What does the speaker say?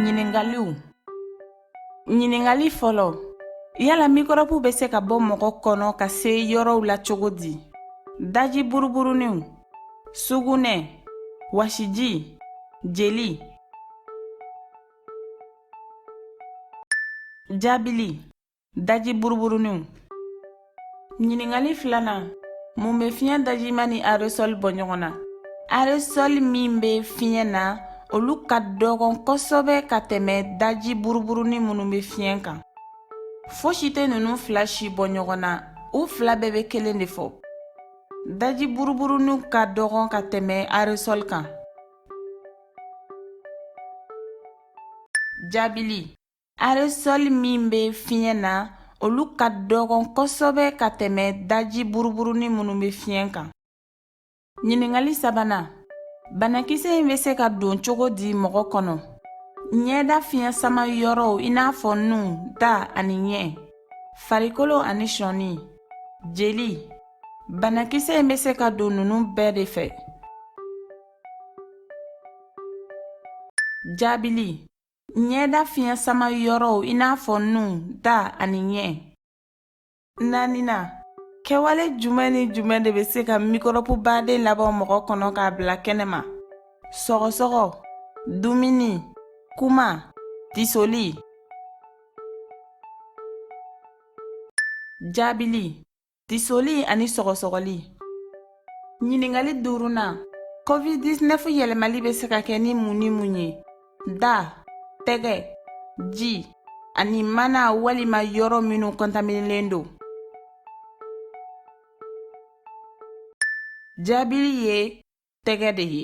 Ɲiningaliw Ɲiningali fɔlɔ Yala mikɔrɔbu bɛ se ka bɔ mɔgɔ kɔnɔ ka se yɔrɔw la cogo di? Daji buruburuninw, sugunɛ, wasiji, jeli. Jaabili Daji buruburuninw Ɲiningali filanan mun bɛ fiɲɛ dajima ni aresɔli bɔ ɲɔgɔn na aresɔli min bɛ fiɲɛ na olu ka dɔgɔn kosɛbɛ ka tɛmɛ daji buruburunin minnu bɛ fiɲɛ kan fosi tɛ ninnu fila si bɔ ɲɔgɔn na u fila bɛɛ bɛ kelen de fɔ daji buruburuninw ka dɔgɔn ka tɛmɛ aresɔli kan jaabili Aresɔli min bɛ fiɲɛ na olu ka dɔgɔn kosɛbɛ ka tɛmɛ daji buruburunin minnu bɛ fiɲɛ kan ɲiningali sabanan banakisɛ in bɛ se ka don cogo di mɔgɔ kɔnɔ ɲɛda fiɲɛ sama yɔrɔw i n'a fɔ nun da ani ɲɛ farikolo ani sɔɔni jeli banakisɛ in bɛ se ka don ninnu bɛɛ de fɛ jaabili Ɲɛda fiɲɛ sama yɔrɔw i n'a fɔ nun da ani ɲɛ naaninan kɛwale jumɛn ni jumɛn de bɛ se ka mikɔrɔbu baden labɔ mɔgɔ kɔnɔ k'a bila kɛnɛ ma sɔgɔsɔgɔ dumuni kuma tisoli jaabili tisoli ani sɔgɔsɔgɔli ɲiningali duurunan covid-19 yɛlɛmali bɛ se ka kɛ ni mun ni mun ye da tɛgɛ ji ani mana walima yɔrɔ minnu kɔntaminilen don jaabili ye tɛgɛ de ye